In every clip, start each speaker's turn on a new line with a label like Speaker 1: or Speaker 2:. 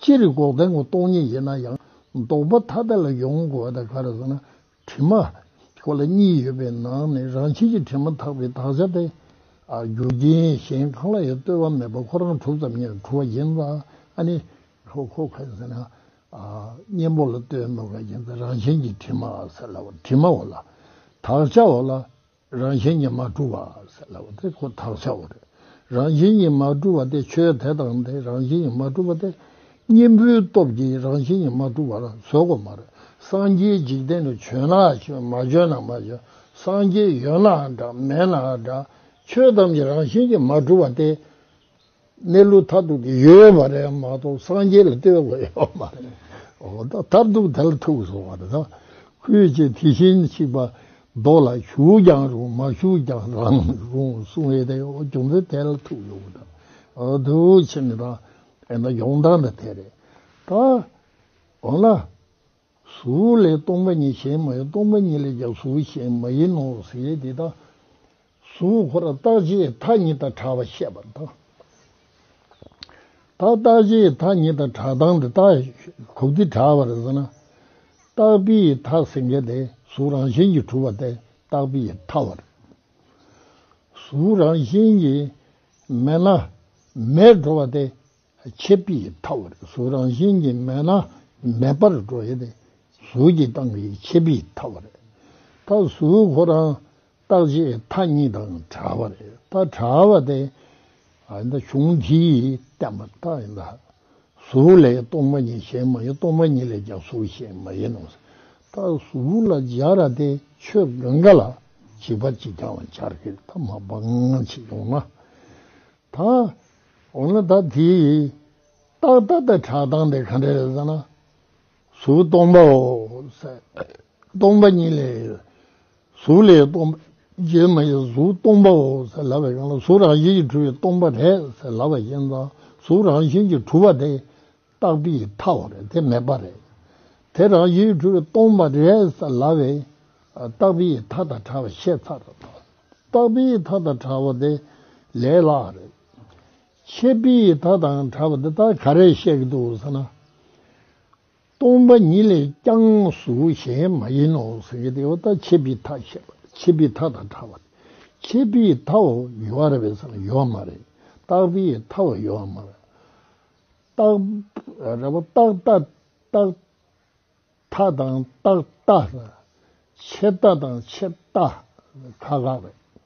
Speaker 1: སྤྱིར་འགོག་བདེན་གོ་རྟོགས་ཉིད་ཡིན་ན་ཡང་ལྡོག་པ་ཐ་དད་ལ་ཡོངས་གོ་བ་དང་ག་རེ་ཟེར་ན་དྲི་མ། གོ་ལ་གཉིས་ཡོད་པའི་ནང་ནས་རང་བྱེད་ཀྱི་དྲི་མ་དག་པའི་དག་བྱ་སྟེ། རྒྱུ་རྐྱེན་གཞན་གང་ལ་ཡང་ལྟོས་པ་མེད་པར་ཁོ་རང་གྲུབ་ཙམ་ཉིད་ལ་གྲུབ་པ་ཡིན་ཙང་ཨ་ནི། གོ་ག་རེ་ཟེར་ན། གཉེན་པོ་ལ་ལྟོས་མེད་པ་ཡིན་ཙང་རང་བྱེད་ཀྱི་དྲི་མ་ཟེར་ལ་བ་དྲི་མའོ་ལ། དག་བྱའོ་ལ། རང་བཞིན་ཉིད་མ་གྲུབ་བ་ཟེར་ལབ་དེ་ཁོ་ཐག་ཆོད་རེད། རང་བཞིན་ཉིད་མ་གྲུབ་བ་དེ་ཆོས་དེ་དང་དེ་རང་བཞིན་ཉིད་མ་གྲུབ་བ་དེ། གཉེན་པོའི་སྟོབས་ཀྱིས་རང་བཞིན་ཉིད་མ་གྲུབ་བར་བཟོ་དགོས་མ་རེད། སངས་རྒྱས་འཇིག་རྟེན་དུ་བྱོན་ན་བྱོན་མ་བྱོན་ན་མ་བྱོན་སངས་རྒྱས་ཡོད་ནའང་འདྲ་མེད་ནའང་འདྲ། ཆོས་ཐམས་ཅད་རང་བཞིན་ཉིད་མ་གྲུབ་བ་དེ། གནས་ལུགས་མཐར་ཐུག་གི་ཡོད་པ་རེད་མ་གཏོགས་སངས་རྒྱས་ལ་ལྟོས་དགོས་ཡོད་པ་མ་རེད། མཐར་ཐུག་དེ་ལ་ཐུག་སོང་བ་རེད། ཁུལ་གྱི་དེ་བཞིན་གཤེགས་པ་མདོ་ལ་བཞུགས་ཀྱང་རུང་མ་བཞུགས་ཀྱང་རང་རུང་གསུང་བའི་དེ་བྱུང་ཚེ་དེ་ལ་ཐུག་ཡོང་བ་དང། དུས་ཕྱིས་ནས་དང་དེ་ན་ཡོང་སྟངས་དང་དེ་རེད། ད་འོ་ན། གཟུགས་ལས་སྟོང་པ་ཉིད་གཞན་མ་ཡིན་སྟོང་པ་ཉིད་ལས་ཀྱང་གཟུགས་གཞན་མ་ཡིན་ནོ་ཟེར་དེ་དང། གཟུགས་འཁོར་རྟག་ཆད་མཐའ་གཉིས་དང་གྲགས་པ་བཤད་པ་དང། ད་རྟག་ཆད་མཐའ་གཉིས་དང་གྲགས་སྟངས་འདི་ལྟ། གོ་བདེ་གྲགས་པར་ཟེར་ན། རྟག་པའི་མཐའ་ཟེར་མཁན་དེ་གཟུགས་རང་བཞིན་གྱིས་གྲུབ་པ་སྟེ་རྟག་པའི་མཐའ། བར་གཟུགས་རང་བཞིན་གྱིས་མེད་ན་མེད་འགྲོ་བ་སྟེ་ཆད་པའི་མཐའ། བར་གཟུགས་རང་བཞིན་གྱིས་མེད་ན་མེད་པར་འགྲོ་བ་སྟེ་གཟུགས་ཀྱི་སྟངས་ཀྱིས་ཆད་པའི་མཐའ། བར་ད་གཟུགས་འཁོར་རང་རྟགས་ཀྱི་མཐའ་གཉིས་དང་བྲལ་བ་རེད་ད་བྲལ་བ་དེ་གཞུང་གིས་བསྟན་པ་ལྟར་ཡིན་ད་གཟུགས་ལས་སྟོང་པ་ཉིད་གཞན་མ་ཡིན་སྟོང་པ་ཉིད་ལས་ཀྱང་གཟུགས་གཞན་མ་ཡིན་ནོ། ད་གཟུགས་ལ་སྦྱར་ར་དེ་ཆོས་དགོན་འགའ་ལ་བྱིས་པ་གཅིག་ཀྱང་སྦྱར་གི་ད་མ་སྤང་ཅིག་ཡོང་ན་ད་འོ་ན་ད་དེའི་རྟགས་ད་ལྟ་གྲགས་སྟངས་དེ་ག་འདྲ་རེད་ཟེར་ན་གཟུགས་སྟོང་པའོ། སྟོང་པ་ཉིད་ལས། གཟུགས་ལས་སྟོང་པ་རྗེས་མ་ཡི་གཟུགས་སྟོང་པའོ་ལབ་པའི་དབྱིངས་ལ་གཟུགས་རང་བཞིན་གྱིས་འཁྲུལ་བའི་སྟོང་པ་རེད་ལབ་པའི་དབྱིངས་དང་གཟུགས་རང་བཞིན་གྱིས་འཁྲུལ་བ་དེ་རྟག་པའི་མཐའོ་རེད་དེ་མེད་པ་རེད། དེ་རང་བཞིན་གྱིས་འཁྲུལ་བའི་སྟོང་པ་རེད་ལབ་པའི་རྟག་པའི་མཐའ་དང་ཕྲ་བ་ཤེས་ཚར་རྟག་པའི་མཐའ་དང་ཕྲ་བ་དེ་ལས་ལྷག་རེད། ཆད་པའི་ད་དང་བྲལ་བ་འདི་དག་ག་རེ་བཤད་ཀྱི་འདུག་ཟེར་ན། སྟོང་པ་ཉིད་ལས་ཀྱང་གཟུགས་གཞན་མ་ཡིན་ནོ་ཟེར་གྱི་འདུག་ད་ཆད་པའི་ད་བཤད་པ་དེ་ཆད་པའི་ད་དང་བྲལ་བ་དེ་ཆད་པའི་དའོ་ཡོད་རེད་བས་ཟེར་ན་ཡོད་མ་རེད་རྟག་པའི་དའོ་ཡོད་མ་རེད། རྟག་རེད་པ་རྟག་རྟག་རྟག་དང་རྟག་རྟག་ཆད་རྟག་དང་ཆད་རྟག་ཁག་ཁག་རེད།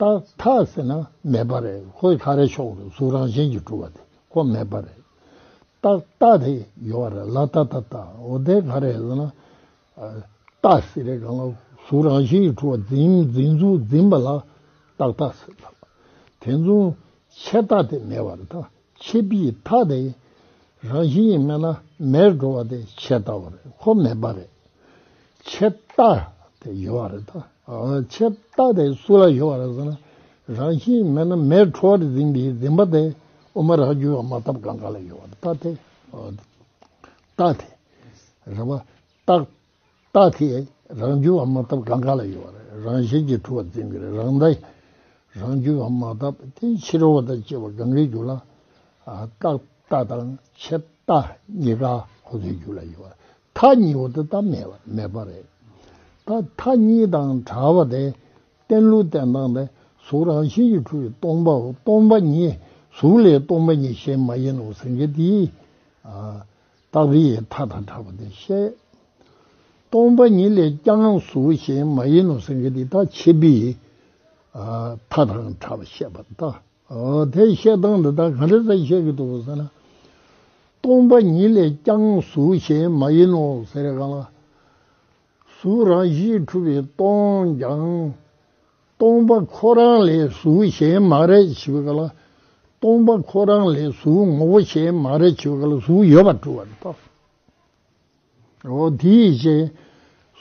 Speaker 1: རྟགས་མཐའ་ཟེར་ན་མེད་པ་རེད་ཁོ་ལྷ་རའི་ཕྱོགས་སུ་གཟུགས་རང་བཞིན་གྱིས་གྲུབ་པ་དེ་ཁོ་མེད་པ་རེད། རྟགས་རྟགས་དེ་ཡོད་པ་རེད་ལ་རྟགས་རྟགས་རྟགས་འོ་དེ་ག་རེད་ཟེར་ན། རྟགས་ཟེར་རེད་གང་ལ་གཟུགས་རང་བཞིན་གྱིས་གྲུབ་པ་འཛིན་འཛིན་གཟུགས་འཛིན་པ་ལ་རྟགས་རྟགས་ཟེར། དེ་མཚུངས་ཆད་རྟགས་དེ་མེད་པ་རེད། ཆེས་པའི་མཐའ་དེ་རང་བཞིན་གྱི་མེད་ན་མེར་འགྲོ་བ་དེ་ཆད་ལྟ་བ་རེད་ཁོ་མེད་པ་རེད། ཆད་ལྟ་དེ་ཡོད་བ་རེད་ད། ཆད་ལྟ་དེ་སུ་ལ་ཡོད་བ་རེད་ཟེར་ན་རང་བཞིན་གྱི་མེད་ན་མེར་འཕྲོ་བར་འཛིན་པའི་འཛིན་པ་དེ་དབུ་མ་རགས་རྒྱུད་བ་མ་ཐབས་གང་ག་ལ་ཡོད་བ་རེད་ད་དེ། རྟགས་དེ་རེད་བ། རྟགས་རྟགས་ཀྱི་རང་རྒྱུད་བ་མ་བཏབ་གང་ག་ལ་ཡོད་པ་རེད་རང་བཞིན་གྱིས་གྲུབ་པ་འཛིན་གྱི་རེད་རང་རྟགས་ཀྱི་རང་རྒྱུད་བ་མ་བཏབ་དེ་ཕྱི་རོལ་བ་དང་བཅས་པ་གང་གའི་རྒྱུད་ལ་རྟགས་རྟགས་དང་ཕྱི་རྟགས་གཉིས་ཀ་ཁོ་ཚོའི་རྒྱུད་ལ་ཡོད་པ་རེད་མཐའ་གཉིས་པོ་དེ་རྟགས་མེད་པ་མེད་པ་རེད་ད་མཐའ་གཉིས་དང་གྲགས་པ་དེ་བརྟན་ལུགས་བརྟན་སྟངས་དེ་གཟུགས་རང་བཞིན་གྱིས་གྲུབ་པའི་སྟོང་པའོ་སྟོང་པ་ཉིད་གཟུགས་ལས་སྟོང་པ་ཉིད་གཞན་མ་ཡིན་ནོ་ཟེར་མཁན་དེའི་རྟགས་རིགས་ཡི་དྭགས་དང་འདྲ་བ་དེ་བཤད། སྟོང་པ་ཉིད་ལས་ཀྱང་གཟུགས་གཞན་མ་ཡིན་ནོ་སེང་གེ་འདི་དག་ཆེ་བི་ཡི་དྭགས་དང་འདྲ་བ་བཤད་པ་ལྟ། དེ་བཤད་སྟངས་འདི་དག་གང་རིགས་སུ་བཤད་ཀྱི་འདུག་གོ་ཟེར་ན། སྟོང་པ་ཉིད་ལས་ཀྱང་གཟུགས་གཞན་མ་ཡིན་ནོ་ཟེར་གང་ལགས། གཟུགས་རང་བཞིན་གྲུབ་པའི་སྟོང་ཀྱང། སྟོང་པ་ཁོ་རང་ལས་གཟུགས་གཞན་མ་རེད་བྱེད་པའི་སྐབས་ལ་སྟོང་པ་ཁོ་རང་ལས་གཟུགས་ངོ་བོ་གཞན་མ་རེད་བྱེད་པའི་སྐབས་ལ་གཟུགས་ཡོད་པར་གྲུབ་བར་གཏོགས་སོ། འོ་དེའི་རྗེས་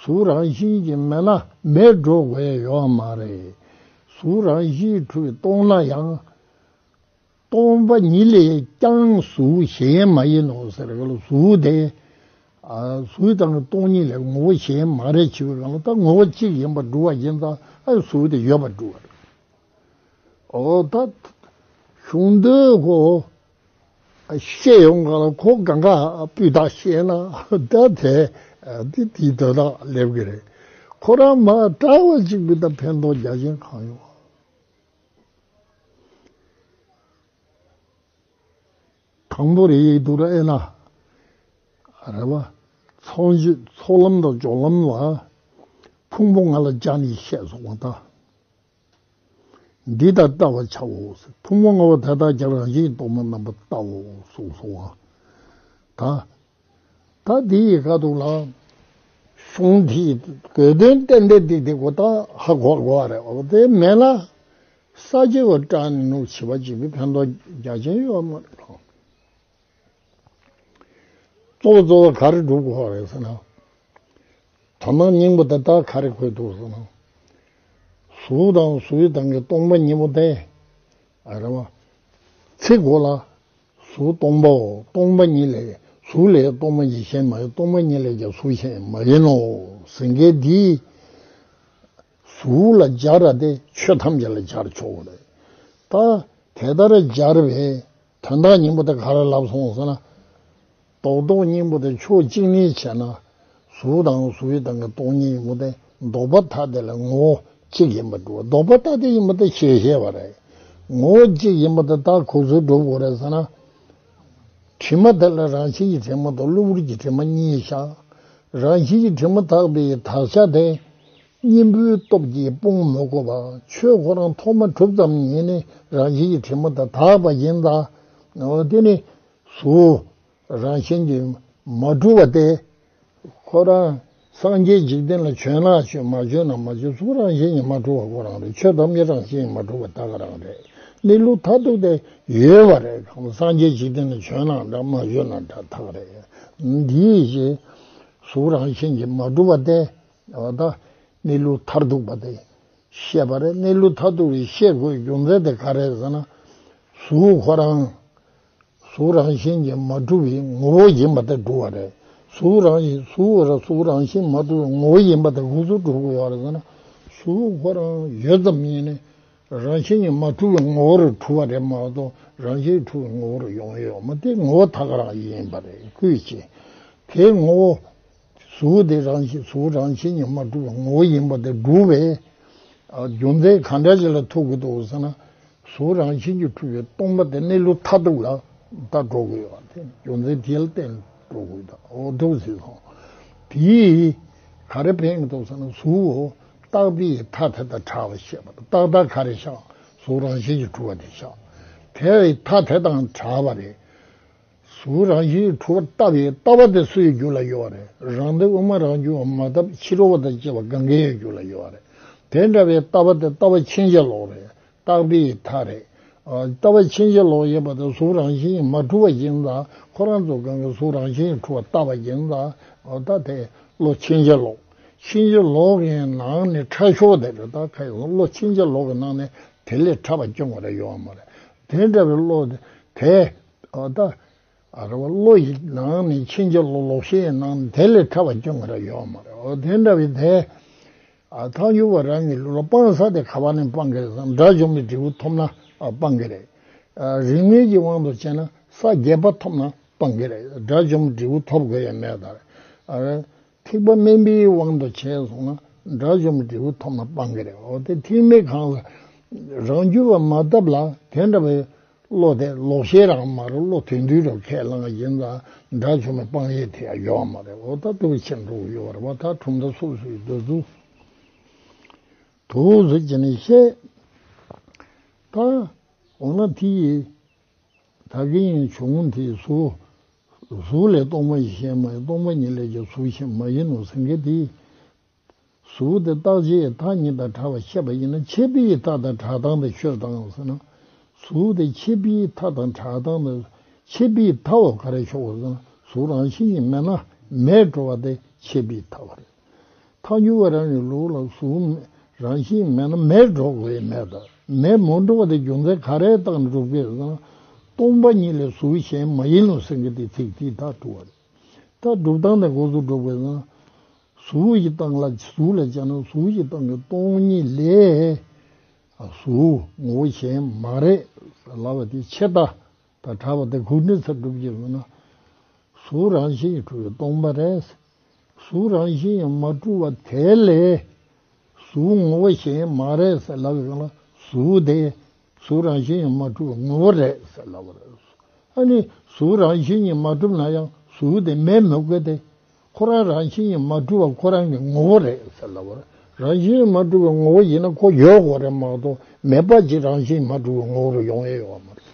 Speaker 1: གཟུགས་རང་བཞིན་གྱིས་མེད་ན་མེད་འགྲོ་དགོས་ཡོད་མ་རེད། གཟུགས་རང་བཞིན་གྲུབ་པའི་སྟོང་ན་ཡང། སྟོང་པ་ཉིད་ལས་ཀྱང་གཟུགས་གཞན་མ་ཡིན་ནོ་ཟེར་བའི་ལུགས་སུ་སྟེ། གཟུགས་དང་སྟོང་ཉིད་ལས་ངོ་བོ་གཞན་མ་རེད་ཅེས་པའི་ལམ་ལྟར་ངོ་བོ་གཅིག་ཡིན་པར་སྒྲུབ་བ་ཡིན་ཙང་གཟུགས་དེ་ཡོད་པར་སྒྲུབ་བ་རེད། ད་གཞུང་འདོད་ཁོ་བཤད་ཡོང་ག་ལ་ཁོ་ག་འགའ་སྤུས་དག་ཤེས་ན་ད་དེ་དེའི་འདོད་ཐག་སླེབས་གི་རེད། ཁོ་རང་མ་བཀྲ་བ་ཅིག་པུས་ད་ཕན་ཐོགས་རྒྱག་མཁན་གང་ཡོང། དང་པོ་རེ་ཡིག་ཏུ་དབྱེ་ན། རེ་བ། ཚོགས་མཆོད་ཚོགས་ལམ་དང་སྦྱོར་ལམ་ལ། ཕུང་པོ་ལྔ་ལ་སྦྱར་ནས་བཤད་སོགས་པ་དང། འདི་ལྟར་བལྟ་བར་བྱའོ། ཕུང་པོ་ལྔ་པོ་དེ་དག་ཀྱང་རང་བཞིན་གྱི་གཏོར་མ་རྣམ་པར་བལྟའོ་གསུངས་སོ། དང། ད་འདི་ཡི་ཁ་དོག་ལའང་གསུང་འདིས་གོ་དོན་གཏན་འདེབས་འདི་དེ་གོ་ད་ཧ་གོ་བར་གོ་བ་རེད་བ་དེ་མེད་ན་ས་བྱི་བ་ཀྲ་ནི་ནུ་བྱི་བ་ཅིག་གི་ཕན་ཐོགས་རྒྱ་ཆེན་ཡོད་པ་མ་རེད་དམ། གཙོ་བོ་གཙོ་བོ་ག་རེ་སྒྲུབ་དགོས་བ་རེད་ཟེར་ན། དོ་སྣང་སྙིང་པོ་དེ་ད་ག་རེ་འཁོད་འདུག་ཟེར་ན། གཟུགས་དང་གཟུགས་དང་གི་སྟོང་པ་ཉིད་པོ་དེ་རེད་བ། ཚིག་གོ་ལ། གཟུགས་སྟོང་པའོ་སྟོང་པ་ཉིད་ལས་གཟུགས་ལས་སྟོང་པ་ཉིད་གཞན་མ་ཡིན་སྟོང་པ་ཉིད་ལས་ཀྱང་གཟུགས་གཞན་མ་ཡིན་ནོ། ཟིན་སྐད་འདིས། གཟུགས་ལ་སྦྱར་བ་སྟེ་ཆོས་ཐམས་ཅད་ལ་སྦྱར་ཆོག་ལ། ད་དེ་ལྟར་སྦྱར་བའི་དོན་དག་སྙིང་པོ་དེ་ག་ལ་ལབ་སོང་ཟེར་ན། རྡོག་རྡོག་སྙིང་པོ་དེ་ཕྱོགས་གཅིག་ནས་བྱས་ན། གཟུགས་དང་གཟུགས་ཡུལ་དང་གི་སྟོང་ཉིད་ཡིན་པ་དེ་ལྡོག་པ་ཐ་དད་ལ་ངོ་བོ་གཅིག་ཡིན་པར་འགྲོ་བ་ལྡོག་པ་ཐ་དད་ཡིན་པ་དེ་ཞེས་བཤད་པ་རེད། ངོ་བོ་གཅིག་ཡིན་པ་དེ་དག་གོ་ཚུལ་སྒྲུབ་དགོས་རེད་ཟེར་ན། དྲི་མ་དེ་ལ་རང་བཞིན་གྱི་དྲི་མ་དང་གློ་བུར་གྱི་དྲི་མ་གཉིས་བཞག། རང་བཞིན་གྱི་དྲི་མ་དག་པའི་དག་བྱ་དེ། གཉེན་པོའི་སྟོབས་ཀྱིས་སྤོང་མི་དགོས་པར་ཆོས་ཁོ་རང་ཐོག་མ་གྲུབ་ཙམ་ཉིད་ནས་རང་བཞིན་གྱི་དྲི་མ་དེ་དག་པ་ཡིན་ལ། དེ་ནི། སུ་རང་བཞིན་གྱིས་མ་གྲུབ་པ་སྟེ། ཁོ་རང་སངས་རྒྱས་འཇིག་རྟེན་ལ་བྱོན་ན་བྱོན་མ་བྱོན་ན་མ་བྱོན་སུ་རང་བཞིན་གྱིས་མ་གྲུབ་པ་ཁོ་རང་རེད་ཆོས་ཐམས་ཅད་རང་བཞིན་གྱིས་མ་གྲུབ་པ་ད་ག་རང་རེད་གནས་ལུགས་མཐའ་ཐུག་སྟེ་ཡོད་པ་རེད་གམ་སངས་རྒྱས་འཇིག་རྟེན་ལ་བྱོན་ན་འདྲ་མ་བྱོན་ན་འདྲ་ཐག་རེད་འདི་བཞིན་གཟུགས་རང་བཞིན་གྱིས་མ་གྲུབ་པ་སྟེ། ད་གནས་ལུགས་མཐར་ཐུག་པ་དེ་ཤེས་པ་རེད་གནས་ལུགས་མཐའ་ཐུག་རེད་ཤེས་དགོས་རྒྱུ་མཚན་དེ་ག་རེད་ཟེར་ན། གཟུགས་ཁོ་རང་གཟུགས་རང་བཞིན་གྱིས་མ་གྲུབ་པའི་ངོ་བོ་ཡིན་པ་དེ་གྲུབ་བ་རེད། གཟུགས་རང་བཞིན་གཟུགས་རང་གཟུགས་རང་བཞིན་མ་གྲུབ་པའི་ངོ་བོ་ཡིན་པ་དེ་གཟུགས་གྲུབ་བ་རེད་ཟེར་ན། གཟུགས་ཁོ་རང་ཡོད་ཙམ་ཉིད་ནི། རང་བཞིན་གྱིས་མ་གྲུབ་པའི་ངོ་བོར་གྲུབ་བ་རེད་མ་གཏོགས་རང་བཞིན་གྱིས་གྲུབ་པའི་ངོ་བོར་ཡོང་ཡོད་མ་དེ་ངོ་བོ་དག་རང་ཡིན་པ་རེད་ཁུལ་བྱེད། དེའི་ངོ་བོ་གཟུགས་དེ་རང་བཞིན་གཟུགས་རང་བཞིན་གྱིས་མ་གྲུབ་པའི་ངོ་བོ་ཡིན་པ་དེ་སྒྲུབ་པའི་རྒྱུ་མཚན་གང་འདྲ་ཞིག་ལ་ཐུག་གི་འདུག་ཟེར་ན། གཟུགས་རང་བཞིན་གྱིས་གྲུབ་པའི་སྟོང་པ་དེ་གནས་ལུགས་མཐའ་ཐུག་ལ་ད་འགྲོ་དགོས་པ་དེ་རྒྱུ་མཚན་དེ་ལ་བརྟེན་ནས་འགྲོ་དགོས་ད་འོ་འགྲོ་ཟིག་སོང། དེས་ག་རེ་འཕེན་གི་འདུག་ཟེར་ན་གཟུགས་འོ་རྟགས་དེ་ཡི་མཐའ་དེ་དང་གྲགས་ལ་བཤད་པ་དང་རྟགས་དག་ག་རེ་བཞག་གཟུགས་རང་བཞིན་གྱིས་གྲུབ་པ་དེ་བཞག་དེ་ཡི་མཐའ་དེ་དང་གྲགས་པ་རེད། གཟུགས་རང་བཞིན་གྱི་འཁྲུལ་བ་ལྟ་བའི་ལྟ་བ་དེ་སུ་ཡི་རྒྱུད་ལ་ཡོད་བ་རེད་རང་དེ་དབུ་མ་རང་བྱུང་བ་མ་བཏབ་ཕྱི་རོལ་བ་དང་བཅས་པ་གང་གཱའི་ཡི་རྒྱུད་ལ་ཡོད་བ་རེད་དེ་འདྲ་བའི་ལྟ་བ་དེ་ལྟ་བ་ཕྱིན་ཅི་ལོག་རེད་རྟག་པའི་མཐའ་རེད། ལྟ་བ་ཕྱིན་ཅི་ལོག་ཡིན་པ་དང་གཟུགས་རང་བཞིན་གྱི་མ་འཁྲུལ་བ་ཡིན་ན་ཁོ་རང་ཚོ་གང་གི་གཟུགས་རང་བཞིན་གྱི་འཁྲུལ་བ་ལྟ་བ་ཡིན་ན་ད་དེ་བློ་ཕྱིན་ཅི་ལོག་ཕྱིན་ཅི་ལོག་གི་ནང་ནས་ཁྲག་ཤོར་བ་དེ་རེད་ད་ཁ་ཡི་བློ་ཕྱིན་ཅི་ལོག་གི་ནང་ནས་དེ་ལས་ཕྲ་བ་སྐྱོན་བ་རེ་ཡོད་བ་མ་རེད་དེ་འདྲ་བའི་བློ་དེ་ད་ལྟ་རེ་བ་བློ་ཡི་ནང་ནས་ཕྱིན་ཅི་ལོག་ལོག་ཤེས་ཡི་ནང་དེ་ལས་ཕྲ་བ་ཅུང་རེ་ཡོད་མ་རེད་དེ་འདྲ་བའི་དེ། ཐང་རྒྱུ་བ་རང་གི་ལུས་ལ་སྤང་ས་དེ་ག་བ་ནས་སྤང་གི་ཟེར་ན་དགྲ་བཅོམ་པའི་འབྲས་བུ་ཐོབ་ན་སྤང་གི་རེད། རིག་གནས་ཀྱི་དབང་དུ་བྱས་ན་ས་བརྒྱད་པ་ཐོབ་ན་སྤང་གི་རེད་དགྲ་བཅོམ་འབྲས་བུ་ཐོབ་དགོས་ཡ་མེད་ད་རེད། ཐེག་པ་དམན་པའི་དབང་དུ་བྱས་སོང་ན་དགྲ་བཅོམ་འབྲས་བུ་ཐོབ་ན་སྤང་གི་རེད་འོ་དེ་ཐེག་དམན་གང་ལ་རང་རྒྱུད་པ་མ་བཏབ་ལ་དེ་འདྲ་བའི་བློ་དེ་ལོག་ཤེས་རང་མ་རུང་བློ་དོན་འདུས་རོ་ཁས་བླངས་བཞིན་དང་དགྲ་བཅོམ་པའི་སྤང་ཡས་དེ་ཡང་ཡོད་བ་མ་རེད་འོ་ད་དུ་ཕྱིར་འགྲོ་དགོས་ཡོད་བ་རེད་བ་ད་གྲུབ་མཐའ་སོ་སོའི་འདོད་གཟུགས་དུ་གཟུགས་ཀྱི་ནི་བཤད་ད་འོ་ན་དེ་ཡི་དག་གི་ཡང་བྱུང་དེ་གཟུགས་གཟུགས་ལས་སྟོང་པ་ཡེ་ཤེས་མ་ཡིན་སྟོང་པ་ཉིད་ལས་ཀྱང་གཟུགས་གཞན་མ་ཡིན་ནོ་སེང་གེ་དེས། གཟུགས་དེ་རྟག་ཆད་ཡི་དྭགས་ཉིད་དང་གྲགས་པ་ཤེས་པ་ཡིན་ན་ཆད་པའི་ཡི་དྭགས་དང་གྲགས་སྟངས་དང་ཤོས་དང་ཟེར་ན། གཟུགས་དེ་ཆད་པའི་ཡི་དྭགས་དང་གྲགས་སྟངས་དང་ཆད་པའི་ཡི་དྭགས་བ་ག་རེ་ཤོག་གོ་ཟེར་ན་གཟུགས་རང་བཞིན་གྱིས་མེད་ན་མེད་འགྲོ་བ་དེ་ཆད་པའི་ཡི་དྭགས་བ་རེད། ཐག་ཉུལ་བ་རང་གི་ལུགས་ལ་གཟུགས་མེད་རང་བཞིན་མེད་ན་མེད་སྒྲོག་བས་མེད་དང་མེད་མུ་འགྲོ་བ་དེ་རྒྱུ་མཚན་ག་རེ་བཏགས་ན་འགྲུབ་ཀྱི་ན། སྟོང་པ་ཉིད་ལས་གཟུགས་གཞན་མ་ཡིན་ནོ་ཟེར་གྱི་དེ་ཚིག་དེའི་དག་སྒྲུབ་བ་རེད། དག་སྒྲུབ་སྟངས་དེ་འགོ་ཚུགས་འགྲུབ་ཀྱི་ན། གཟུགས་ཀྱི་སྟངས་ལ་གཟུགས་ལ་སྦྱར་ན་གཟུགས་ཀྱི་སྟངས་ཀྱི་སྟོང་ཉིད་ལས། གཟུགས་ངོ་བོ་གཞན་མ་རེད་ཟེར་ལབ་པ་དེ་ཕྱེད་དག་དང་གྲགས་པ་དེ་གུག་འདྲིལ་ཚར་སྒྲུབ་ཀྱི་ཡོད་ན། གཟུགས་རང་བཞིན་གྱིས་གྲུབ་པའི་སྟོང་པ་རེད། གཟུགས་རང་བཞིན་ཡང་མ་གྲུབ་བ་དེ་ལས། གཟུགས་ངོ་བོ་གཞན་ཡང་མ་རེད་ཟེར་སླ་བའི་དབང་ལ་གཟུགས་དེ། གཟུགས་རང་བཞིན་ཡང་མ་གྲུབ་བ་ངོ་བོ་རེད་ཟེར་སླ་བ་རེད། ཨ་ནི། གཟུགས་རང་བཞིན་གཉིས་མ་གྲུབ་ན་ཡང་གཟུགས་དེ་མེད་མི་དགོས་ཏེ། ཁོ་རང་རང་བཞིན་གཉིས་མ་གྲུབ་བ་ཁོ་རང་གི་ངོ་བོ་རེད་ཟེར་སླ་བ་རེད། རང་བཞིན་གཉིས་མ་གྲུབ་བའི་ངོ་བོ་ཡིན་ན་ཁོ་ཡོད་དགོས་རེད་མ་གཏོགས་མེད་པ་ཅིག་རང་བཞིན་གཉིས་མ་གྲུབ་བའི་ངོ་བོ་རུ་ཡོང་ཡས་ཡོད་པ་མ་རེད།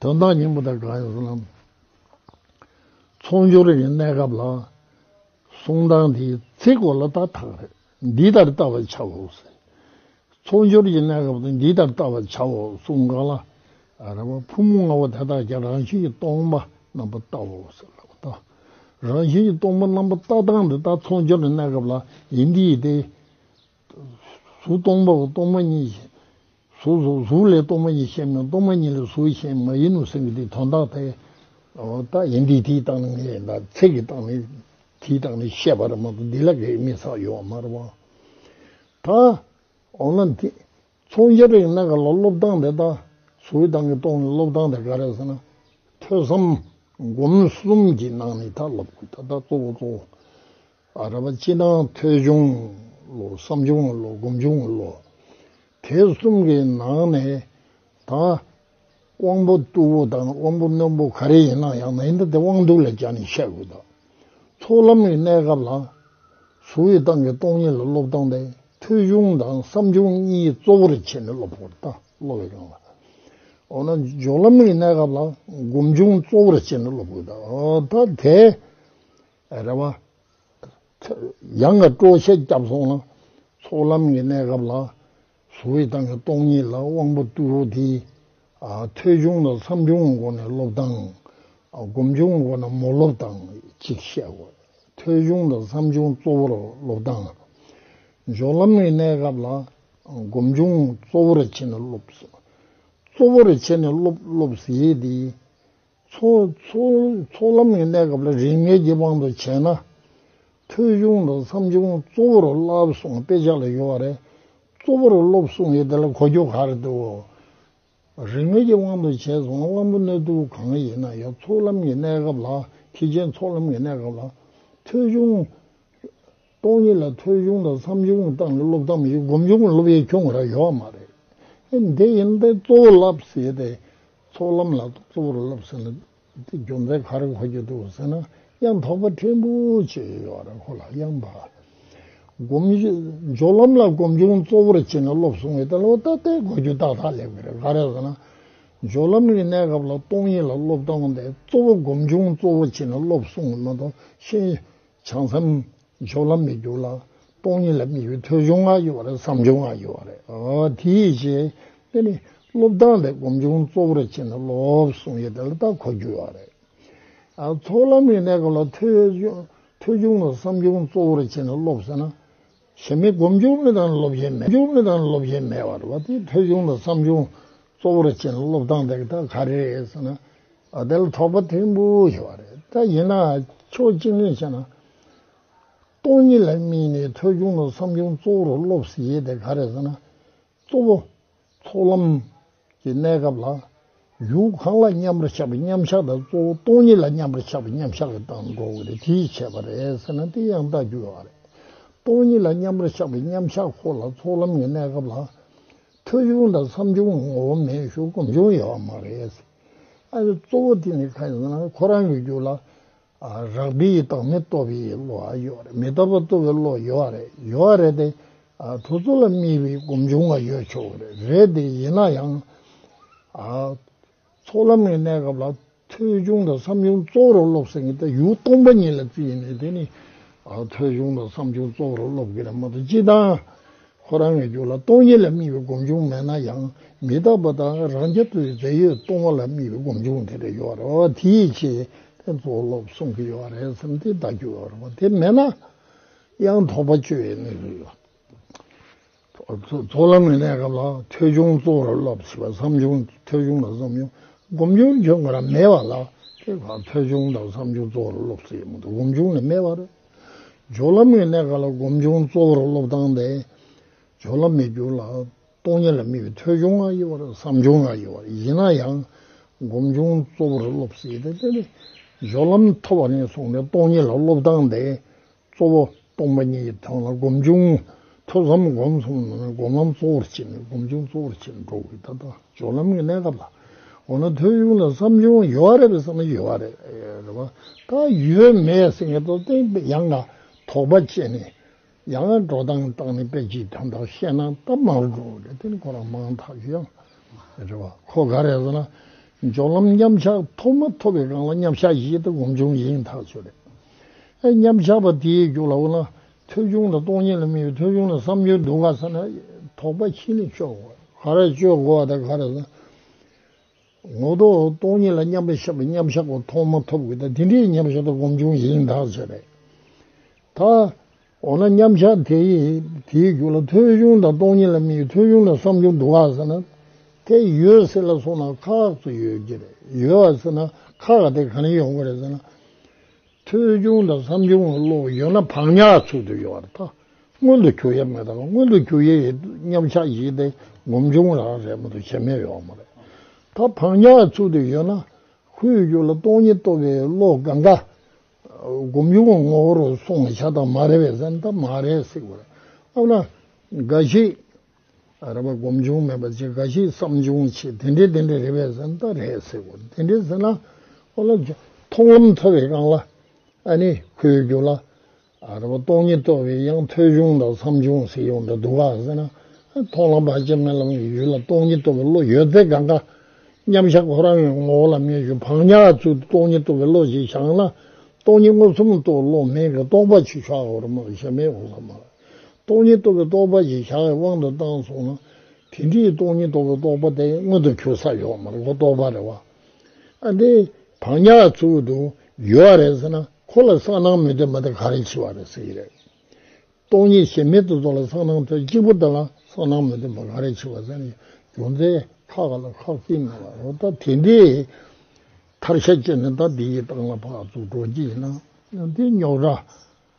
Speaker 1: དོན་དག་སྙིང་པོ་དག་གང་ཡོད་གསུང་ལམ་ཚོགས་འབྱོར་གྱི་གནས་སྐབས་ལ། གསུང་དང་དེའི་ཚེ་གོ་ལ་ཏག་ཏག་རེད། འདི་ལྟར་བལྟ་བར་བྱའོ། ཚོགས་འབྱོར་གྱི་གནས་སྐབས་དུ་འདི་ལྟར་བལྟ་བར་བྱའོ་གསུང་གང་ལ། རེ་བ་ཕུང་པོ་ལྔ་བོ་དེ་དག་ཀྱང་རང་བཞིན་གྱི་སྟོང་པ་རྣམ་པར་བལྟའོ། རང་བཞིན་གྱི་སྟོང་པ་རྣམ་པར་བལྟ་སྟངས་འདི་ལྟར་ཚོགས་འབྱོར་གྱི་གནས་སྐབས་ལ་ཡིན་དེ་ཡིན་ཏེ། གཟུགས་སྟོང་པའོ་སྟོང་པ་ཉིད་བཞིན། གཟུགས་སོགས་གཟུགས་ལས་སྟོང་པ་ཉིད་བཤད་མོད་སྟོང་པ་ཉིད་ལས་གཟུགས་གཞན་མ་ཡིན་ནོ་སེམས་ཀྱི་དེའི་དོན་རྟགས་དེ། རྟགས་ཡིན་དེའི་དེའི་རྟགས་ནི་ངེས་ཡིན་དང་ཚིག་གི་རྟགས་ནི། དེའི་རྟགས་ནི་བཤད་པ་རི་མོ་དང་འདི་ལ་གེགས་མི་བསགས་གཡོ་བ་མ་རུ་བ། ད། འོ་ན། མཚུངས་སྦྱར་རིགས་སྣ་ག་ལ་སློབ་སྟངས་དེ་དང། གཟུགས་གི་སྟངས་ཀྱིས་སྟོང་ནི་སློབ་སྟངས་དེ་ག་རེ་ཟེར་ན། ཐོས་བསམ། སྒོམ་གསུམ་གྱི་ནང་ནས་ད་སློབ་དགོས་ད་ལྟ་གཙོ་བོ་གཙོ་བོ། ཨ་རབ་སྤྱི་ནང་ཐོས་ཆུང་ལོ་བསམ་ཆུང་ལོ་སྒོམ་ཆུང་ལོ། དེ་གསུམ་གྱི་ནང་ནས་ད་དབང་པོ་རྟུལ་བོ་དང་དབང་པོ་རྣོན་པོ་ག་རེ་ཡིན་ན་ཡང་མི་འདི་དེ་དབང་སྡུག་ལ་སྦྱར་ནས་བཤད་དགོས་དོ། ཚོགས་ལམ་གྱི་གནས་སྐབས་ལ་གཟུ་བོའི་སྟངས་ཀྱི་སྟོང་ཉིད་ལ་སློབ་སྟངས་ཏེ་ཐོས་ཆུང་དང་བསམ་ཆུང་གཉིས་གཙོ་བོར་བྱས་ནས་སློབ་དགོས་ཏོ་སློབ་བའི་སྒང་ལ། འོ་ན་སྦྱོར་ལམ་གྱི་གནས་སྐབས་ལ་སྒོམ་ཆུང་གཙོ་བོར་བྱས་ནས་སློབ་དགོས་ཏོ། ད་དེ། རེ་བ། ཡང་ངས་སྤྲོ་བཤད་བརྒྱབ་སོང་ལ། ཚོགས་ལམ་གྱི་གནས་སྐབས་ལ། གཟུ་བོའི་ཏང་གི་སྟོང་ཉིད་ལ་དབང་པོ་བཏུལ་རོགས་དེ། ཐོས་ཆུང་དང་བསམ་ཆུང་གི་སྒོ་ནས་སློབ་དང། སྒོམ་ཆུང་གི་སྒོ་ནས་མོ་སློབ་དང་གཅིག་བཤད་དགོས། ཐོས་ཆུང་དང་བསམ་ཆུང་གཙོ་བོར་སློབ་དང། འཇོག་ལམ་གྱི་གནས་སྐབས་ལ། སྒོམ་ཆུང་གཙོ་བོར་བྱས་ནས་སློབ། གཙོ་བོར་བྱས་ནས་སློབ་སློབ་ཟེར་དེ། ཚོགས་ལམ་གྱི་གནས་སྐབས་ལ་རིགས་ངེས་ཀྱི་དབང་དུ་བྱས་ན། ཐོས་གཞུང་དང་མཚམས་གཞུང་གཙོ་བོར་བསླབ་གསུང་དཔེ་ཆ་ལ་ཡོད་པ་རེད། གཙོ་བོར་སློབ་གསུང་ཡིན་དེ་ལ་གོ་རྒྱུ་ག་རེ་འདུག། རིགས་ངེས་ཀྱི་དབང་དུ་བྱས་སོང་དབང་པོ་སྣོད་དུ་གང་ཡིན་ན་ཡང་ཚོགས་ལམ་གྱི་གནས་སྐབས་ལ་ཐེག་ཆེན་ཚོགས་ལམ་གྱི་གནས་སྐབས་ལ། ཐོས་གཞུང། སྟོང་ཉིད་ལ་ཐོས་གཞུང་དང་མཚམས་གཞུང་བཏང་ནས་སློབ་སྟངས་ཡིག་སྒོམ་གཞུང་སློབ་ཡས་ཁྱུང་ར་ཡོད་བ་མ་རེད། ཨེ་འདི་ཡིན་པས་གཙོ་བོ་བསླབ་ཟེར་ཏེ། ཚོགས་ལམ་ལ་གཙོ་བོར་བསླབ་ཟེར་ན། དེ་རྒྱུ་མཚན་ག་རེ་གོ་རྒྱུ་འདུག་ཟེར་ན་གཡང་དྭགས་པ་ཕྲན་བུ་ཅིག་ཡོད་བ་རེད་ཁོ་ལ་གཡང་དྭགས། སྒོམ། སྦྱོར་ལམ་ལ་སྒོམ་གཞུང་གཙོ་བོར་བྱས་ནས་སློབ་གསུང་བའི་ལྟར་ལོ་ཏོག་སྟེ་གོ་རྒྱུ་ཏག་ཏག་ལེགས་པ་རེད་ག་རེ་ཟེར་ན། སྦྱོར་ལམ་གྱི་གནས་སྐབས་ལ་སྟོང་ཉིད་ལ་སློབ་སྟངས་དེ་གཙོ་བོ་སྒོམ་གཞུང་གཙོ་བོ་བྱས་ནས་སློབ་གསུང་མ་གཏོགས་ཤེས། བྱང་སེམས། མཆོག་ལམ་མི་འགྱུར་ལ། སྟོང་ཉིད་ལ་མི་གཡོ་ཐོས་བྱུང་ང་ཡི་བ་རེད་བསམ་བྱུང་ང་ཡི་བ་རེད། དེའི་རྗེས་དེ་ནི་སློབ་སྟངས་ལས་སྒོམ་བྱུང་གཙོ་བོར་བྱས་ནས་སློབ་གསུང་ཡི་དོན་ལ་བརྟག་གོ་རྒྱུ་བ་རེད། ཚོགས་ལམ་གྱི་གནས་སྐབས་ལ་ཐོས་བྱུང་ལ་བསམ་བྱུང་གཙོ་བོར་བྱས་ནས་སློབ་ཟེར་ན། ཞེན་མེད་སྒོམ་སྦྱོང་མེད་དང་སློབ་ཞེན་མེད་སྦྱོང་མེད་དང་སློབ་ཞེན་མེད་བར་བ་དེ་ཐོས་ཆུང་དང་བསམ་ཆུང་གཙོ་བོར་བྱེད་ན་སློབ་སྟངས་དེ་དག་ག་རེ་རེད་ཟེར་ན། དེ་ལ་དོགས་པ་ཐེངས་པོ་ཞིག་བ་རེད་ད་ཡིན་ན་ཕྱོགས་གཅིག་ནས་བཤད་ན། སྟོང་ཉིད་ལ་དམིགས་ནས་ཐོས་ཆུང་དང་བསམ་ཆུང་གཙོ་བོར་སློབ་ཟེར་ཡས་དེ་ག་རེ་ཟེར་ན། གཙོ་བོ། ཚོགས་ལམ། གྱི་གནས་སྐབས་ལ། ཡུལ་གང་ལ་མཉམ་པར་ཆགས་པའི་མཉམ་གཞག་དང་གཙོ་བོ་སྟོང་ཉིད་ལ་མཉམ་པར་ཆགས་པའི་མཉམ་གཞག་གི་སྟངས་འགྲོ་དགོས་རེད་དེ་ཡིས་བྱས་པ་རེད་ཟེར་ན་དེ་ཡང་ལྟ་རྒྱུ་ཡོད་རེད། སྟོང་ཉིད་ལ་མཉམ་པར་ཆགས་པའི་མཉམ་གཞག་ཁོ་ལ་ཚོགས་ལམ་གྱི་གནས་སྐབས་ལ། ཐོས་བྱུང་དང་བསམ་བྱུང་གི་ངོ་བོ་མེད་ཞོར་གོམས་བྱུང་ཡོད་པ་མ་རེད། ཨ་ཡེ་གཙོ་བོ་དེ་ནི་གང་ཡིན་ཟེར་ན་ཁོ་རང་གི་རྒྱུད་ལ། རང་འདྲི་ཡི་དྭགས་མི་ལྟོ་བའི་བློ་བ་ཡོད་རེད་མི་ལྟོ་བ་ལྟོ་བའི་བློ་ཡོད་བ་རེད་ཡོད་བ་རེད་དེ། གྲོ་ཚོ་ལ་རྨིས་བའི་སྒོམ་ཆུང་བ་ཡོད་ཆོག་གི་རེད་རེད་དེ་ཡིན་ན་ཡང། ཚོགས་ལམ་ནས་གནས་སྐབས་ལ་ཐོས་ཆུང་དང་བསམ་ཆུང་གཙོ་བོར་སློབ་ཟིན་གི་ད་ཡུག་སྟོང་པ་གཉིས་ལ་བརྩིས་ནས་དེ་ནི། ཐོས་ཆུང་དང་བསམ་ཆུང་གཙོ་བོར་སློབ་གི་རེད་མ་གཏོགས་སྤྱི་དང། ཁོ་རང་གི་རྒྱུད་ལ་སྟོང་ཉིད་ལ་དམིགས་པའི་སྒོམ་བྱུང་མེད་ན་ཡང་མི་རྟག་པ་དང་རང་རྐྱ་ཐུབ་པའི་རྫས་ཡོད་སྟོང་བ་ལ་དམིགས་པའི་སྒོམ་བྱུང་དེ་འདྲ་ཡོད་རེད་བ་དེའི་ཆེད་དེ་ཚོ་སློབ་གསུང་གི་ཡོད་རེད་བསམ་སྟེ་བདག་རྒྱུད་འོད་རང་བ་དེ་མེད་ན་ཡང་དོགས་པ་བཅོས་ཡོད་ནི་རེད་བ། ཚོགས་ལམ་མི་གནས་སྐབས་ལ་ཐོས་བྱུང་གཙོ་བོར་བསླབ་ཞེས་པ་བསམ་བྱུང་ཐོས་བྱུང་དང་བསམ་བྱུང་སྒོམ་བྱུང་ཁྱོད་ང་རང་མེད་བ་ལ་དེ་ཐོས་བྱུང་དང་བསམ་བྱུང་གཙོ་བོར་སློབ་ས་ཡོད་མི་འདུག་སྒོམ་བྱུང་ལས་མེད་བ་རེད། སྦྱོར་ལམ་མེད་གནས་ག་ལ་སྒོམ་བྱུང་གཙོ་བོར་སློབ་སྟངས་ལས། སྦྱོར་ལམ་མེད་འགྱུར་ལ་སྟོང་ཉིད་ལ་དམིགས་པའི་ཐོས་བྱུང་ང་ཡི་བར་བསམ་བྱུང་ང་ཡི་བར་ཡིན་ན་ཡང། སྒོམ་བྱུང་གཙོ་བོར་སློབ་སྲིད་དེ། སྦྱོར་ལམ་ཐོབ་བ་ནས་བཟུང་ནས་སྟོང་ཉིད་ལ་སློབ་སྟངས་ལས། གཙོ་བོ་སྟོང་པ་ཉིད་ཀྱི་དོན་ལ་སྒོམ་བྱུང་ཐོས་བསམ་སྒོམ་གསུམ་ནང་བའི་སྒོམ་ལམ་གཙོ་བོར་བྱས་ནས་སྒོམ་བྱུང་གཙོ་བོར་བྱས་ནས་འགྲོ་དགོས་ད་ལྟ་སྦྱོར་ལམ་གྱི་གནས་སྐབས་ལ་འོ་ན་ཐོས་བྱུང་ལ་བསམ་བྱུང་ཡོད་རེད་པས་བསམ་ཡོད་རེད་རེད་པ་ད་ཡོད་མེད་སེང་གེ་ཏོ་སྟེང་དཔེ་ཡང་ན་དོགས་པ་བཅད་ནས་ཡང་ན་འགྲོ་སྟངས་སྟངས་ནས་དཔེ་གཅིག་དོན་དག་བཤད་ན་སྟབས་མ་རུ་འགྲོ་རེད་དེ་ནི་ཁོ་རང་མང་དག་གི་ཡང་རེད་པ་ཁོ་ག་རེད་ཟེར་ན་སྦྱོར་ལམ་མཉམ་གཞག་ཐོབ་མ་ཐོབ་པའི་སྒང་ལ་མཉམ་གཞག་ཡིན་ད་སྒོམ་བྱུང་ཡིན་ཐག་ཆོད་རེད་ཨེ་མཉམ་གཞག་པ་དེའི་རྒྱུགས་ལ་འོ་ན་ཐོལ་བྱུང་དང་སྟོང་ཉིད་ལ་དམིགས་པའི་ཐོལ་བྱུང་ལ་བསམ་སྦྱོར་འདུ་འགག་ཚ་ན་དོགས་པ་ཕྱིན་ལས་སྤྱོད་དགོས། ག་རེ་སྤྱོད་དགོས་བ་དང་ག་རེ་བསམ། ངོ་ཐོག་སྟོང་ཉིད་ལ་མཉམ་པའི་ཤེས་པ་མཉམ་བཞག་གོ་ཐོག་མ་ཐོབ་དགོས་ད་དེ་འདྲའི་མཉམ་བཞག་དང་སྒོམ་བྱུང་ཡིན་དག་བྱས་པས་ད། འོ་ན་མཉམ་བཞག་དེའི་རྒྱུ་ལ་ཐོལ་བྱུང་དང་སྟོང་ཉིད་ལ་དམིགས་པའི་ཐོལ་བྱུང་ལ་བསམ་སྦྱོར་འདུ་འགག་ཚ་ན་དེ་ཡོད་སྲིད་ལ་སོང་ན་ཁག་ཏུ་ཡོད་ཀྱི་རེད་ཡོད་བ་ཚེ་ན་ཁག་དེ་ག་ནས་ཡོང་གི་རེད་ཟེར་ན། ཐོལ་བྱུང་དང་བསམ་བྱུང་གི་གློག་ཡོད་ན་བག་ཉག་ཚུལ་དུ་ཡོད་པར་ཐག་སྔོན་དུ་འཁྱུག་ཡས་མེད་དང་སྔོན་དུ་འཁྱུག་ཡས་ཡོད་སྙམ་ཆགས་ཞིག་སྟེ་ངོམ་ཆུང་རང་རེད་མོད་བྱེད་མེད་ཡོད་མ་རེད། ད་བག་ཉག་ཚུལ་དུ་ཡོད་ན་ཁོའི་རྒྱུད་ལ་སྟོང་ཉིད་སྟོབས་པའི་གློག་འགའ་འགའ་སྒོམ་ཆུང་བའི་ངོ་བོ་རུ་སོང་བ་ཆགས་སྟངས་མ་རེད་པས་སེམས་ཐག་མ་རེད་སྲིད་དགོས། ཨ་མ་འགའ་ཞིག། རེད་པ་སྒོམ་བྱུང་མེད་པ་ཅིག་ག་ཞིག་བསམ་བྱུང་ཆེ་དེ་འདྲའི་དེ་འདྲའི་རེད་པས་ཟེར་ན་ད་རེད་ཟེར་དགོས་དེ་འདྲའི་ཟེར་ན་ཨོ་ལ་ཇོ་མཐོང་ལམ་ཚ་བའི་སྒང་ལ་ཨ་ནི་ཁོའི་རྒྱུ་ལ་རེད་པ་སྟོང་ཉིད་རྟོགས་པའི་ཡང་ཐོས་བྱུང་དང་བསམ་བྱུང་ཟེར་ཡོང་འདྲ་འདུག་ག་ཟེར་ན་མཐོང་ལམ་བར་ཆད་མེད་ལམ་གྱི་ཡུལ་ལ་སྟོང་ཉིད་རྟོགས་པའི་བློ་ཡོད་ཚད་གང་ག་མཉམ་བཞག་ཁོ་རང་ཡང་ངོ་བོ་ལ་མཉམ་ཞུགས་བག་ཉག་ཚུལ་དུ་སྟོང་ཉིད་རྟོགས་པའི་བློ་ཞིག་བཞག་ན་སྟོང་ཉིད་མངོན་སུམ་རྟོགས་བློ་མེད་ཀི་རྟོགས་པ་ཆུ་ཤག་འོར་མ་ཞབས་མའི་འོ་ཟ་མ། སྟོང་ཉིད་རྟོགས་པའི་རྟོགས་པ་ཞེས་བྱ་བའི་དབང་དུ་བཏང་སོང་ན། དེ་འདྲའི་སྟོང་ཉིད་རྟོགས་པའི་རྟོགས་པ་དེ་མངོན་དུ་གྱུར་ས་ཡོད་མ་རེད་ཁོ་རྟོགས་པ་རེད་བ། ཨ་འདི་བག་ཉག་ཚུལ་དུ་ཡོད་བ་རེད་ཟེར་ན་ཁོ་ལ་སང་གནང་མི་འདོད་མ་དེ་ག་རེ་འཆི་བ་རེད་ཟེར་གྱི་རེད། སྟོང་ཉིད་ཞེན་མེད་དུ་རྫོགས་ལ་སང་གནང་དོན་གཅིག་པུ་དེ་ལ་སང་གནང་མི་འདོད་མ་ག་རེ་འཆི་བ་ཟེར་ནས་རྒྱུ་མཚན་ཁ་ག་ལ་ཁག་བརྩིས་མེད་བ་རོ་ད་དེ་འདྲའི་ཐར་ཤ་གཅོད་ནས་ད་འདི་ཡི་ཏང་ལ་ཕག་བཙུགས་འགྲོ་གི་ཡིན་ན་འདི་རྙོག་དྲ།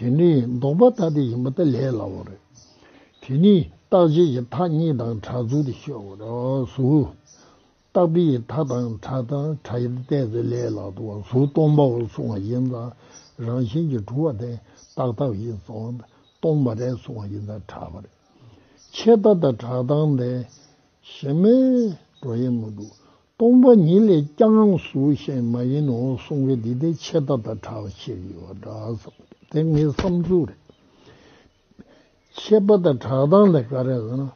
Speaker 1: དེ་ནི་ལྡོག་པ་ལྟ་དེ་ཡིན་པ་ལྟར་ལས་སླ་བོ་རེད། དེ་ནི་རྟག་ཆད་ཀྱི་མཐའ་གཉིས་དང་གྲགས་ཚུལ་དུ་ཤོད་དགོས་རེད། གཟུགས། རྟག་པའི་མཐའ་དང་གྲགས་དང་གྲགས་ཡུལ་བལྟས་ཚེ་ལས་སླ་དོ། གཟུགས་སྟོང་པའོ་གསུང་བ་ཡིན་ཙང་རང་བཞིན་གྱིས་གྲུབ་པ་དེ་རྟག་རྟག་ཡིན་ཙང་སྟོང་པ་རེད་གསུང་བ་ཡིན་ཙང་གྲགས་པ་རེད། ཆད་ལྟ་དང་གྲགས་སྟངས་དེ། གཞན་མའི་འགྲོ་ཡི་མི་འདུག་སྟོང་པ་ཉིད་ལས་ཀྱང་གཟུགས་གཞན་མ་ཡིན་ནོ་གསུང་གི་འདི་དེ་ཆད་ལྟ་དང་གྲགས་ཕྱིར་ཡོད་པ་འདྲ་བསམ་སྟེ་དེ་ངའི་བསམ་ཚུལ་རེད། ཆད་པ་དང་གྲགས་སྟངས་དེ་ག་རེ་ཟེར་ན།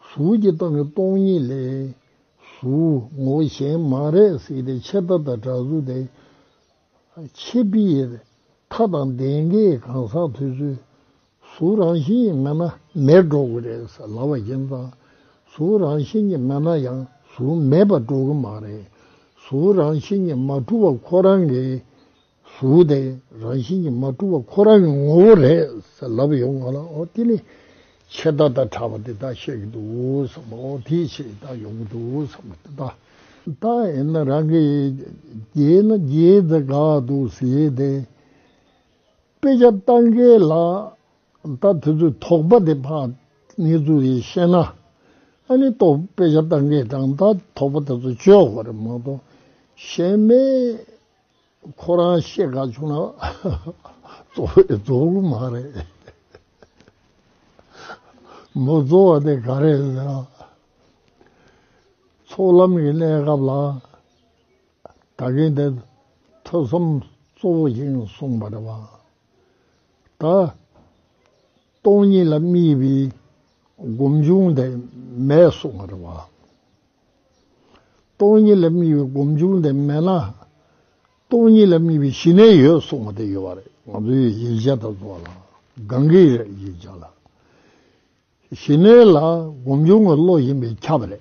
Speaker 1: གཟུགས་ཀྱི་སྟེང་གི་སྟོང་ཉིད་ལས། གཟུགས་ངོ་གཞན་མ་རེད་ཟེར་ཏེ་ཆད་ལྟ་དང་གྲགས་གཟུགས་དེ། ཆེད་སྤེལ། མཐའ་དང་ལྡན་མཁན་གང་ཟག་དེ་ཚོའི་གཟུགས་རང་བཞིན་གྱི་མངལ་ན་མེར་འགྲོ་གི་རེད་ཟེར་ལབ་པ་ཁྱིམ་ཚང་གཟུགས་རང་བཞིན་གྱི་མངལ་ན་ཡང་གཟུགས་མེད་པར་འགྲོ་གི་མ་རེད། གཟུགས་རང་བཞིན་གྱི་མ་གྲུབ་པ་ཁོ་རང་གི་གཟུགས་དེ་རང་བཞིན་གྱི་མ་གྲུབ་པ་ཁོ་རང་གི་ངོ་བོ་རེད་ཟེར་ལབ་ཡོང་གི་ལ་འོ་དེ་ནི། ཆད་ལྟ་དང་ཕྲ་བ་དེ་དག་བཤད་ཀྱི་འདུག་བསམ་པ་འོ་དེའི་ཕྱིར་བདག་ཡོང་གི་འདུག་བསམ་པ་དེ་དག་བདག་ཡིན་ན་རང་གི་རྒྱལ་ན་རྒྱལ་ཟེར་དགའ་འདུག་ཟེར་ཏེ། དཔེ་ཆ་བཏང་གི་ལགས། ད་དེ་ཚོའི་དོགས་པ་དེ་ཕ་ངེས་ཚུལ་རེ་བཤད་ན། ཨ་ནི་ཏོག་དཔེ་ཆ་བཏང་གི་གྲང་ད་དོགས་པ་དེ་ཚོ་བཅོས་དགོས་རེད་མ་གཏོགས་གཞན་མེད། ཁོ་རང་བཤད་དགའ་བྱུང་ན་གཙོ་བོའི་རྫོགས་རུང་མ་རེད། མོ་གཙོ་བ་དེ་ག་རེད་ཟེར་ན། ཚོགས་ལམ་གྱི་གནས་སྐབས་ལ་ད་གིན་དེ་ཐོས་བསམ་གཙོ་བོ་ཡིན་གསུངས་པ་རེད་བ། ད་སྟོང་ཉིད་ལ་དམིགས་པའི་སྒོམ་བྱུང་དེ་མེད་གསུངས་པ་རེད་བ། སྟོང་ཉིད་ལས་མྱི་བའི་སྒོམ་བྱུང་དེ་མེད་ན། སྟོང་ཉིད་ལས་མྱི་བའི་ཞི་གནས་ཡོད་གསུང་བ་དེ་ཡོད་པ་རེད་ང་ཚོའི་ཡིག་ཆ་དང་སོགས་ལ་གང་གི་རེད་ཡིག་ཆ་ལ། ཞི་གནས་ལ་སྒོམ་བྱུང་གི་བློ་ཡིན་པས་ཁྱབ་རེད། ད་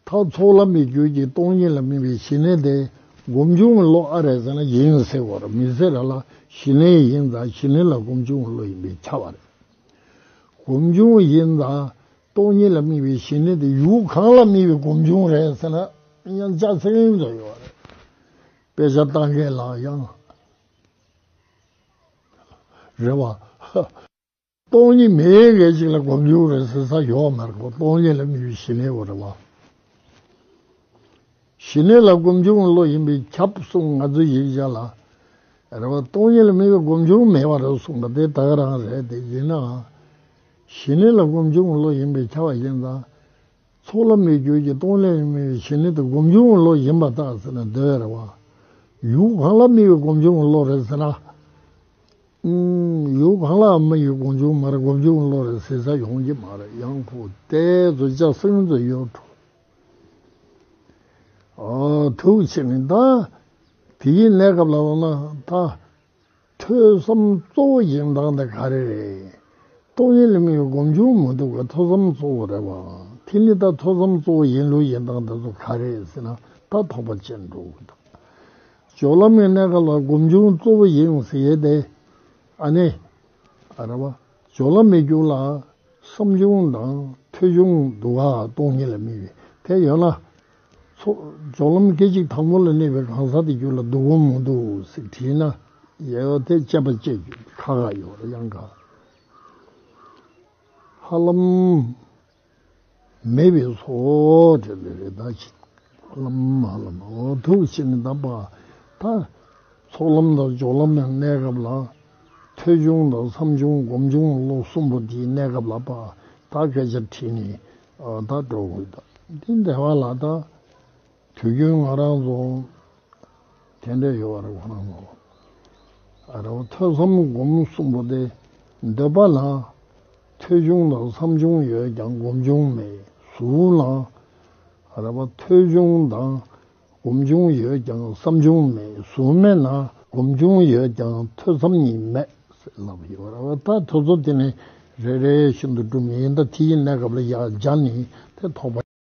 Speaker 1: ཚོགས་ལམ་མི་བསྐྱོད་ཀྱི་སྟོང་ཉིད་ལ་མྱི་བའི་ཞི་གནས་དེ་སྒོམ་བྱུང་གི་བློ་ཨ་རེད་ཟེར་ན་ཡིན་ཟེར་བར་མི་ཟེར་ར་ལ་ཞི་གནས་ཡིན་ཙང་ཞི་གནས་ལ་སྒོམ་བྱུང་གི་བློ་ཡིན་པས་ཁྱབ་པ་རེད། སྒོམ་བྱུང་ཡིན་ཙང། སྟོང་ཉིད་ལ་དམིགས་པའི་ཞི་གནས་དེ་ཡུལ་གང་ལ་དམིགས་པའི་སྒོམ་བྱུང་རེད་ཟེར་ན་དབྱངས་ཅག་ཚིག་རིང་དུ་ཡོད་རེད། དཔེ་ཆ་བལྟ་མཁན་ལ་ཡང་རེད་བ། སྟོང་ཉིད་མེད་མཁན་ཞིག་ལ་སྒོམ་བྱུང་རེད་ཟེར་ས་ཡོད་མ་རེད་བ། སྟོང་ཉིད་ལ་དམིགས་པའི་ཞི་གནས་བ་རེད་བ། ཞི་གནས་ལ་སྒོམ་བྱུང་བློ་ཡིན་པས་ཁྱབ་གསུངས་ང་ཚོས་ཡིག་ཆ་ལ་རེད་བ། སྟོང་ཉིད་ལ་དམིགས་པའི་སྒོམ་བྱུང་མེད་བ་རེད་གསུངས་པ་དེ་དག་རང་རེད་དེ་ཡིན་ནའང། ཞི་གནས་ལ་སྒོམ་བྱུང་བློ་ཞན་པའི་ཆ་བ་ཅན་དང། ཚོགས་ལམ་མེད་གྱུར་གྱི་སྟོང་ལས་མེད་པའི་ཞི་གནས་དེ་སྒོམ་བྱུང་བློ་ཞན་པ་དག་ཟེར་ན་དེ་བས་རེ་བ། ཡུལ་གང་ལ་མི་ཡི་སྒོམ་བྱུང་བློ་རེད་ཟེར་ན། ཡུལ་གང་ལའང་མི་ཡི་སྒོམ་བྱུང་མར་སྒོམ་བྱུང་བློ་རེད་ཟེར་ས་ཡོང་གི་མ་རེད་ཡང་ཁུག་རྟའི་མཛོད་ཆགས་སེང་མཛོད་གཡོ་འཕྲོ། ཐུགས་ཆེ་ངེས་ད། དེ་བཞིན་གནས་སྐབས་ལ་དབང་ན་ད། ཐོས་བསམ་གཙོ་བོ་ཞིག་འདང་དེ་ག་རེ་རེད། ཀྲོང་ཡན་ལི་མི་ཡོད་སྒོམ་ཆུང་མི་འདུག་ག་ཐོས་བསམ་གཙོ་བོ་རེད་བ། དེ་ནི་ད་ཐོས་བསམ་གཙོ་བོ་ཡིན་ལུགས་ཡིན་འདང་དེ་ཚོ་ག་རེད་ཟེར་ན་ད་དོག་པ་ཆེ་འདུག་གདའ། ཇོ་ལམ་ཡེ་གནས་ག་ལ་སྒོམ་ཆུང་གཙོ་བོ་ཡིན་ཟེར་ཏེ། ཨ་ནི། ཨ་ར་བ། ཇོ་ལམ་མི་རྒྱུགས་ལ། བསམ་ཆུང་དང་ཐོས་ཆུང་འདུག་ག་ཀྲོང་ཡན་ལི་མི་ཡོད་དེ་ཡོད་ན། ཚོགས་ལམ་སྐད་ཅིག་དང་པོ་ལ་གནས་པའི་གང་ཟག་དེ་རྒྱུད་ལ་སྡུག་བསྔལ་མོ་འདུག་ཟེར་དྲིས་ན། ཡེ་ཡོ་དེ་དཔྱད་པ་དཔྱད་རྒྱུ་དེ་ཁ་ཁ་ཡོད་རེད་ཡང་དགའ། ཧ་ལམ། མེད་པས་སོ་དེ་ལས་རེ་ད་ཅི། ཧ་ལམ་ཧ་ལམ་འོ་ཐུག་ཕྱི་ནས་གདམས་པ་ད། ཚོགས་ལམ་དང་སྦྱོར་ལམ་ཡང་གནས་སྐབས་ལ། ཐོས་ཆུང་དང་བསམ་ཆུང་སྒོམ་ཆུང་ལོ་གསུམ་པོ་དེའི་གནས་སྐབས་ལ་པ་ད་སྐད་ཆ་དྲིས་ནས་ད་སྤྲོ་དགོས་ད་འདི་འདྲ་བ་ལ་ད་དུས་རྒྱུན་ང་རང་ཚོ་དེ་འདྲ་ཡོད་རེད་ང་རང་ཚོ་ཨ་རོ་ཐོས་བསམ་སྒོམ་གསུམ་པོ་དེ་འདོད་པ་ལ་ཐོས་ཆུང་དང་བསམ་ཆུང་ཡོད་ཀྱང་སྒོམ་ཆུང་མེད་གཟུགས་ལ་རེ་བ་ཐོས་ཆུང་དང་སྒོམ་བྱུང་ཡོད་ཀྱང་བསམ་བྱུང་མེད་གཟུགས་མེད་ན་སྒོམ་བྱུང་ཡོད་ཀྱང་ཐོས་བསམ་གཉིས་མེད་ཟེར་ལབ་ཡོད་རེད་བ་ད་ཐོས་བསམ་དེ་ནི་རེ་རེ་བཞིན་དུ་སྒྲུབ་ངེས་ཡིན་ད་དེ་ཡི་གནས་སྐབས་ལ་ཡང་སྦྱར་ནས་དེ་ཐོག་པ།